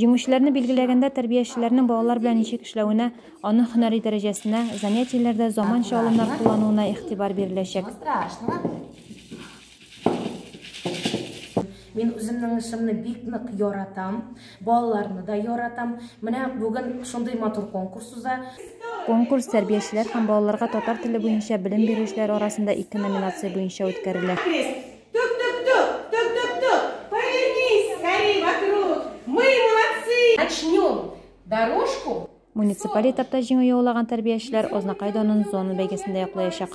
Җиңүчеләрне билгеләгәндә тәрбиячеләрнең балалар белән ничек эшләвенә, аның һөнәри дәрәҗәсенә, занятиеләрдә заманча алымнар куллануына игътибар биреләчәк. Мин үземнең эшемне бик нык яратам. Балаларны да яратам. Менә бүген шундый матур конкурс уза. Конкурс тәрбиячеләр һәм балаларга татар теле буенча белем бирүчеләр арасында ике номинация буенча үткәрелә. Муниципаль этапта җиңү яулаган тәрбиячеләр Азнакай данын зона бәйгесендә яклаячак.